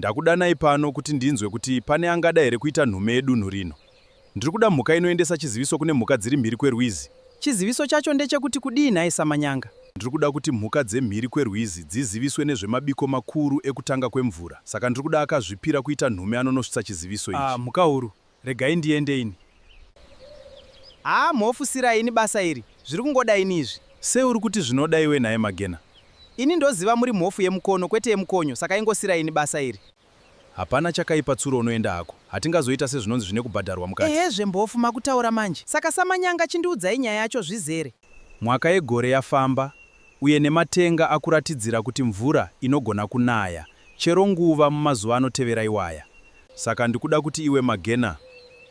Ndakudanai pano kuti ndinzwe kuti pane angada here kuita nhume yedunhu rino. Ndiri kuda mhuka inoendesa chiziviso kune mhuka dziri mhiri kwerwizi. Chiziviso chacho ndechekuti kudii nhai Samanyanga? Ndiri kuda kuti mhuka dzemhiri kwerwizi dziziviswe nezvemabiko makuru ekutanga kwemvura. Saka ndiri kuda akazvipira kuita nhume anonosvitsa chiziviso ichi. Ah, Mhukahuru, Regai ndiende ini. Haa Mhofu sirai ini basa iri, zviri kungoda ini izvi. Sei uri kuti zvinoda iwe nhai Magena? Ini ndoziva muri Mhofu yemukono kwete yemukonyo saka ingosirai ini basa iri. Hapana chakaipa Tsuro unoenda hako, hatingazoita sezvinonzi zvine kubhadharwa mukati. Ehezve Mhofu makutaura manje. Saka saManyanga chindiudzai nyaya yacho zvizere. Mwaka yegore yafamba, uye nematenga akuratidzira kuti mvura inogona kunaya chero nguva mumazuva anotevera iwaya. Saka ndikuda kuti iwe Magena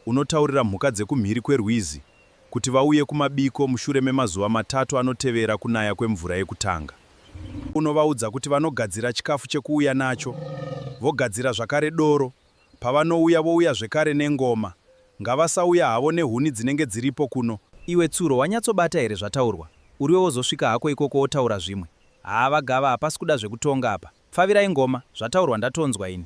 unotaurira mhuka dzekumhiri kwerwizi kuti vauye kumabiko mushure memazuva matatu anotevera kunaya kwemvura yekutanga. Unovaudza kuti vanogadzira chikafu chekuuya nacho, vogadzira zvakare doro pavanouya vouya zvekare nengoma ngavasauya havo nehuni dzinenge dziripo kuno. Iwe Tsuro wanyatsobata here zvataurwa uriwe wozosvika hako ikoko wotaura zvimwe haa vagava hapasi kuda zvekutonga apa pfavirai ngoma zvataurwa ndatonzwa ini.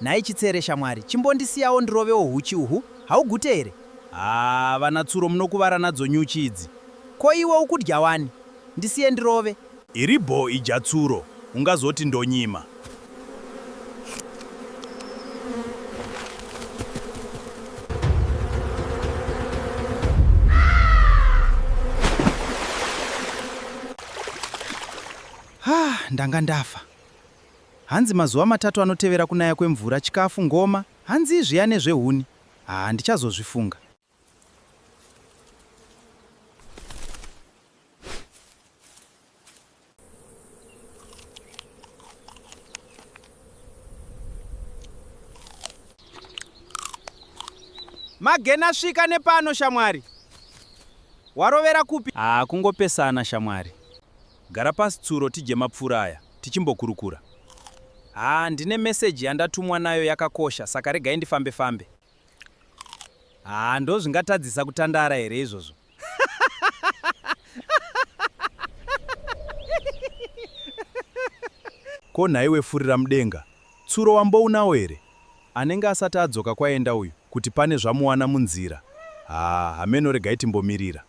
Nhai Chitsere shamwari, chimbondisiyawo ndirovewo huchi uhu, haugute here? Haa vana Tsuro munokuvara nadzo nyuchi idzi. Ko iwe ukudya wani? Ndisiye ndirove. Iri bho idya Tsuro, ungazoti ndonyima. Haa ndanga ndafa. Hanzi mazuva matatu anotevera kunaya kwemvura chikafu ngoma hanzii zviya nezvehuni haa ndichazozvifunga. Magena svika nepano shamwari. Warovera kupi? Haa kungopesana shamwari. Gara pasi Tsuro tidye mapfura aya tichimbokurukura. Haa ndine message yandatumwa nayo yakakosha saka regai ndifambe fambe. Haa ndozvingatadzisa kutandara here izvozvo? Ko nhaiwe furira mudenga, Tsuro wambounawo here? Anenge asati adzoka kwaenda uyu kuti pane zvamuwana munzira. Haa hameno regai timbomirira.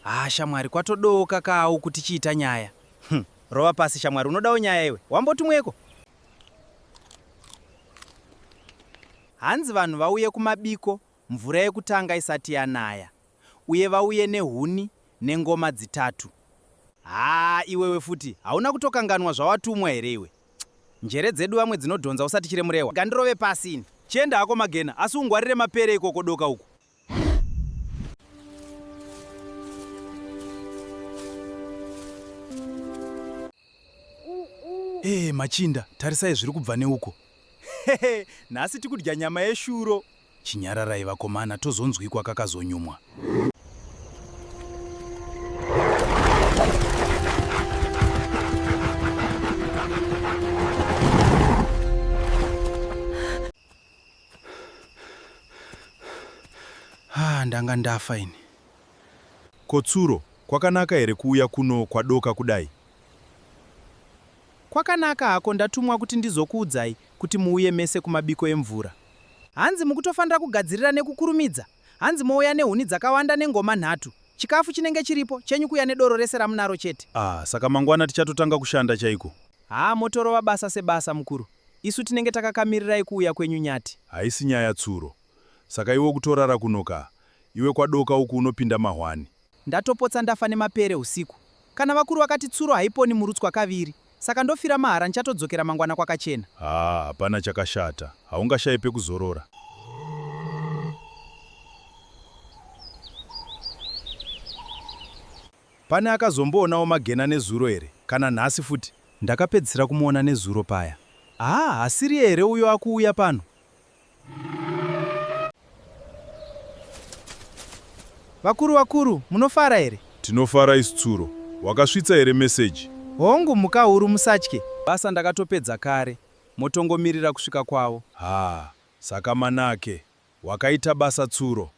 Ah, shamwari kwatodooka kawo kuti chiita nyaya. Hm, rova pasi shamwari unodawo nyaya iwe. Wambotumweko? Hanzi vanhu vauye kumabiko mvura yekutanga isati yanaya. Uye vauye nehuni nengoma dzitatu. Haa iwewe futi hauna kutokanganwa zvawatumwa here iwe njere dzedu vamwe dzinodhonza usati chiremurehwa gandirove pasi ini. Chienda hako Magena asi ungwarire mapere ikoko doka uku. Eeh machinda tarisai zviri kubva neuko. Hehe nhasi tikudya nyama yeshuro. Chinyararai vakomana tozonzwikwa kakazonyumwa. Ah, ndanga ndafa ini. Kotsuro, kwakanaka here kuuya kuno kwadoka kudai? Kwakanaka hako ndatumwa kuti ndizokuudzai Kuti muuye mese kumabiko emvura. Hanzi mukutofanira kugadzirira nekukurumidza. Hanzi mouya nehuni dzakawanda nengoma nhatu. Chikafu chinenge chiripo, chenyu kuya nedoro rese ramunaro chete. Ah, saka mangwana tichatotanga kushanda chaiko. Haa motorova basa sebasa mukuru. Isu tinenge takakamirirai kuuya kwenyu Nyati. Haisi nyaya Tsuro. Saka iwe ukutorara kuno kaa. Iwe kwaDoka uku unopinda mahwani. Ndatopotsa ndafa nemapere husiku. Kana vakuru vakati tsuro haiponi murutswa kaviri. Saka ndofira mahara ndichatodzokera mangwana kwakachena. Haa hapana chakashata. Haungashaye pekuzorora. Pane akazomboonawo Magena nezuro here? Kana nhasi futi? Ndakapedzisira kumuona nezuro paya. Haa hasiriye here uyo akuuya pano? Vakuru vakuru, munofara here? Tinofara isu tsuro. Wakasvitsa here meseji? Hongu mhukahuru musatye. Basa ndakatopedza kare. Motongomirira kusvika kwavo. Haa, saka Manake, wakaita basa tsuro.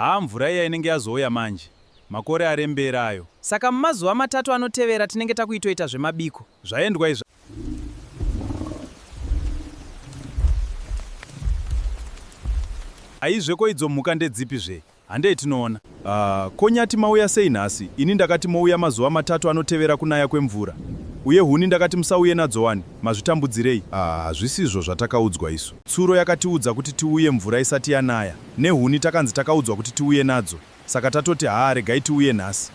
haa mvura iya inenge yazouya manje makore arembera ayo saka mumazuva matatu anotevera tinenge takuitoita zvemabiko zvaendwa izva aizve ko idzo mhuka ndedzipi zve Handei tinoona. Ah, ko Nyati mauya sei nhasi? Ini ndakati mouya mazuva matatu anotevera kunaya kwemvura. Uye huni ndakati musauye nadzo wani, mazvitambudzirei? Ah, hazvisizvo zvatakaudzwa isu. Tsuro yakatiudza kuti tiuye mvura isati yanaya. Nehuni takanzi takaudzwa kuti tiuye nadzo. Saka tatoti haa regai tiuye nhasi.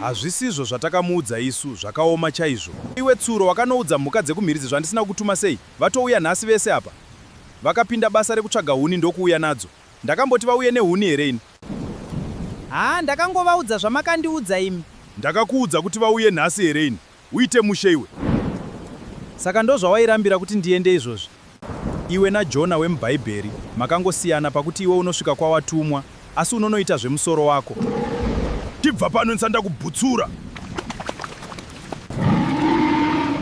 Hazvisizvo zvatakamuudza isu, zvakaoma chaizvo. Iwe Tsuro wakanoudza mhuka dzekumhiridzi zvandisina kukutuma sei? Vatouya nhasi vese apa. Vakapinda basa rekutsvaga huni ndokuuya nadzo. Ndakamboti vauye nehuni here ini? Haa ndakangovaudza zvamakandiudza imi. Ndakakuudza kuti vauye nhasi here ini? Uite mushe iwe. Saka ndozvawairambira kuti ndiende izvozvi? Iwe naJona wemuBhaibheri makangosiyana pakuti iwe unosvika kwawatumwa asi unonoita zvemusoro wako. Chibva pano ndisanda kubhutsura.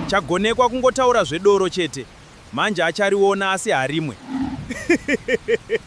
Chagonekwa kungotaura zvedoro chete. Manje achariona asi harimwe.